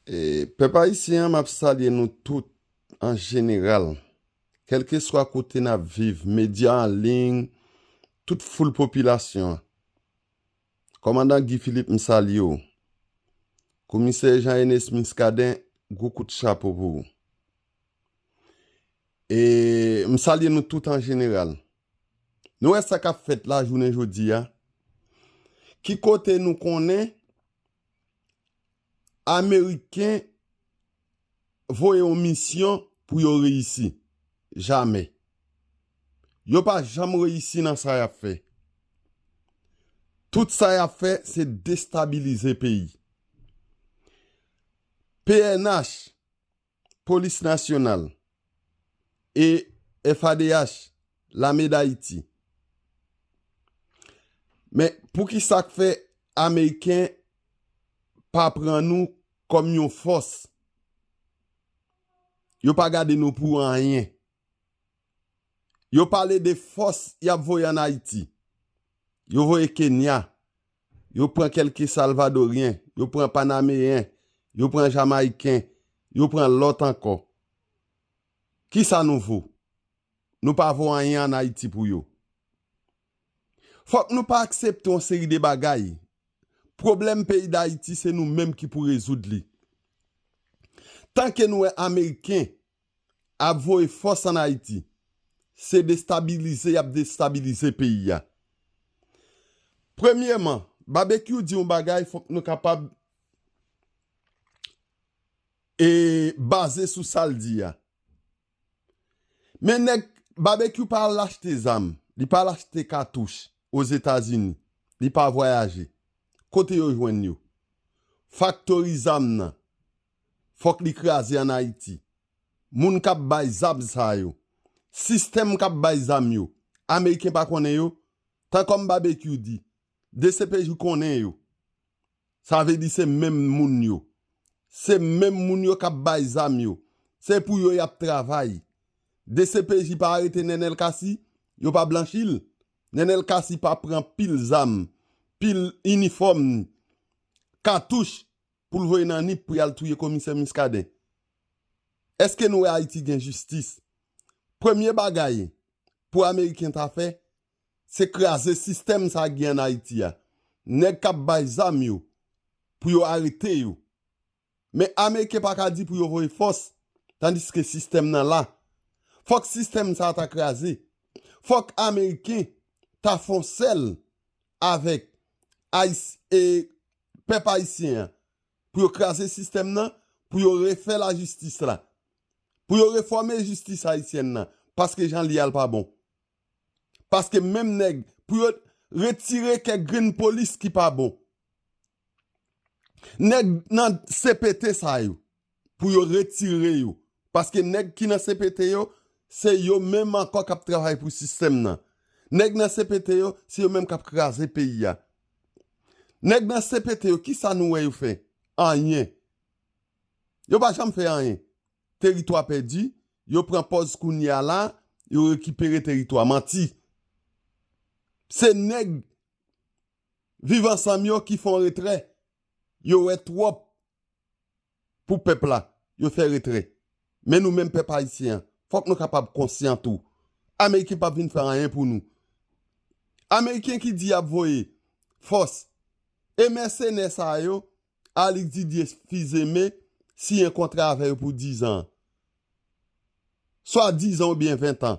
Pèp ayisyen an map salye nou tout an jeneral kelke swa kote nap viv medya an ling tout foul popilasyon an kòmandan Guy Philippe m salye w komisè Jean Ernest Muscadin gwo kout chapo pou ou m salye nou tout an jeneral nou wè sa kap fèt la jounen jodi a ki kote nou konnen Ameriken voye yon misyon pou yo reyisi. Jamè. Yo pa janm reyisi nan sa yap fè. Tout sa yap fè se destabilize peyi. Pnh. Polis Nasyonal e FADH, Lame Dayiti. Men, pou ki sa k fè Ameriken pa pran nou kòm yon fòs? Yo pa gade nou pou anyen. Yo pale de fòs y ap voye an Ayiti. Yo voye Kenya, yo pran kèlke Salvadoryen, yo pran Panameyen, yo pran Jamayiken, yo pran lòt ankò. Ki sa nou vo? Nou pa vo anyen an Ayiti pou yo. Fòk nou pa aksepte yon seri de bagay. Pwoblèm peyi Dayiti se nou menm ki pou rezoud li. Tanke nou wè Ameriken, ap voye fòs an Ayiti, se destabilize y ap destabilize peyi a. Premyeman, Babekyou di yon bagay fòk nou kapab baze sou sa l di a. Men nèg, Babekyou pa al achte zam, li pa al achte katouch Ozetazini, li pa vwayaje. Kote yo jwenn yo? Faktori zam nan. fòk li kraze an Ayiti. Moun k ap bay zam sa yo, sistèm k ap bay zam yo, ameriken pa konnen yo? Tan kòm Babekyou di, dcpj konnen yo. Sa vle di se menm moun yo. Se menm moun yo k ap bay zam yo. Se pou yo y ap travay. Dcpj pa arete Nenel Cassy? Yo pa blanchi l? Nenel Cassy pa pran pil zam, pil inifòm, katouch poul voye nan nip pou yal touye komisè Muscadin eske nou wè ayiti gen jistis premye bagay pou ameriken ta fè se kraze sistèm sa gen an ayiti a nèg kap bay zam yo pou yo arete yo men ameriken paka di pou yo voye fòs tandiske sistèm nan la fòk sistèm sa ta kraze fòk ameriken ta fon sèl avèk ayis e. pèp ayisyen an, pou yo kraze sistèm nan, pou yo refè lajistis la, pou yo refòme jistis ayisyèn nan, paske jan li a l pa bon. Paske menm nèg, pou yo retire kèk grenn polis ki pa bon. Nèg nan CPT sa yo. pou yo retire yo paske nèg ki nan CPT yo se yo menm ankò kap travay pou sistèm nan nèg nan CPT yo se yo menm kap kraze peyi a nèg nan CPT yo kisa nou wè yo fè anyen yo pa janm fè anyen teritwa pèdi yo pran pòz kounye a la yo rekipere teritwa manti se nèg viv ansanm yo ki fon retrè yo wè twòp. pou pèp la, yo fè retrè. Men nou menm pèp ayisyen an, fòk nou kapab konsyan tou. Ameriken pap vin fè anyen pou nou. Ameriken ki di y ap voye fòs e mèsenè sa yo, Alix Didier Fils-Aimé siyen kontra avè yo pou dizan an. Swa dizan oubyen ventan.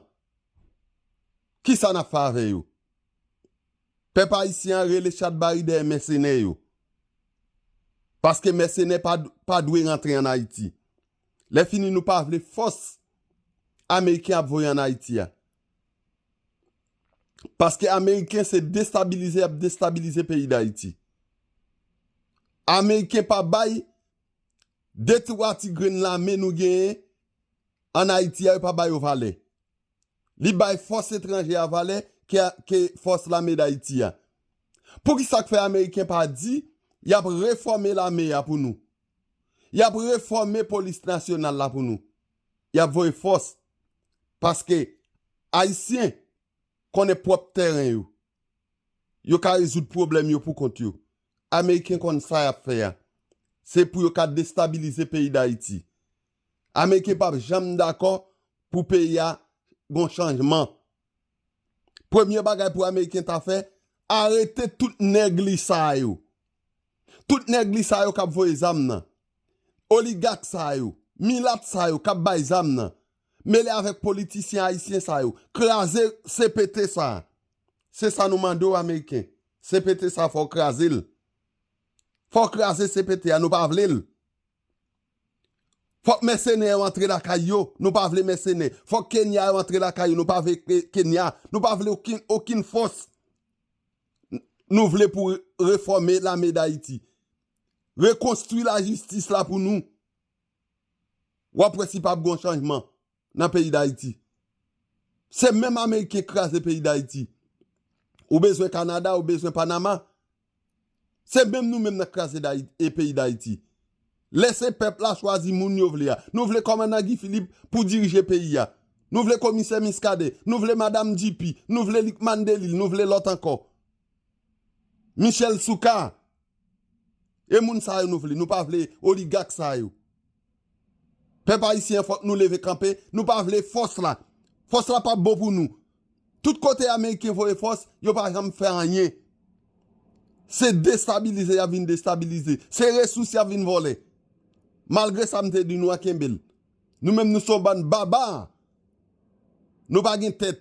Kisa n ap fè avè yo? Pèp ayisyen an rele chat bari dèyè mèsenè yo. Paske mèsenè pa pa dwe rantre an Ayiti. Lè fini nou pa vle fòs ameriken ap voye an Ayiti a. Paske ameriken se destabilize yap destabilize peyi dayiti. Ameriken pa bay de twa ti grenn lame nou genyen an Ayiti a yo pa ba yo valè. Li bay fòs etranje a valè ke fòs lame Dayiti a. Poukisa k fè ameriken pa di y ap refòme lame a pou nou? Y ap refòme polis nasyonal la pou nou? Y ap voye fòs? Paske ayisyen konnen pwòp tèren yo. Yo ka rezoud pwoblèm yo pou kont yo. Ameriken konn sa y ap fè a. Se pou yo ka destabilize peyi Dayiti. Ameriken pap janm dakò pou peyi a gon chanjman. Premye bagay pou ameriken ta fè, arete tout nèg li sa yo. Tout nèg li sa yo kap voye zam nan. Oligak sa yo, milat sa yo kap bay zam nan. Mele avèk politisyen ayisyen sa yo. Kraze CPT sa. Se sa nou mande w ameriken. CPT sa fò w kraze l. Fò w kraze CPT a nou pa vle l. Fòk mèsenè yo antre lakay yo, nou pa vle mèsenè. Fòk Kenya yo antre lakay yo, nou pa vle Kenya. Nou pa vle okin fòs nou vle pou refòme lame dayiti. Rekonstwi lajistis la pou nou. Wap wè si pap gon chanjman. nan peyi dayiti se menm ameriken kraze peyi dayiti ou bezwen kanada ou bezwen panama se menm nou menm nan kraze dayiti peyi dayiti lese pèp la chwazi moun yo vle a nou vle kòmandan guy philippe pou dirije peyi a nou vle komisè miskaden nou vle madam djipi nou vle likmann delil nou vle lòt ankò michel soucar. E moun sa yo nou vle, nou pa vle oligak sa yo. Pèp ayisyen fòk nou leve kanpe, nou pa vle fòs la. Fòs la pap bon pou nou. Tout kote ameriken voye fòs, yo pa janm fè anyen. Se destabilize yap vin destabilize. Se resous yap vin vòlè. Malgre sa m te di nou an kenbe l. Nou menm nou son bann baba. Nou pa gen tèt.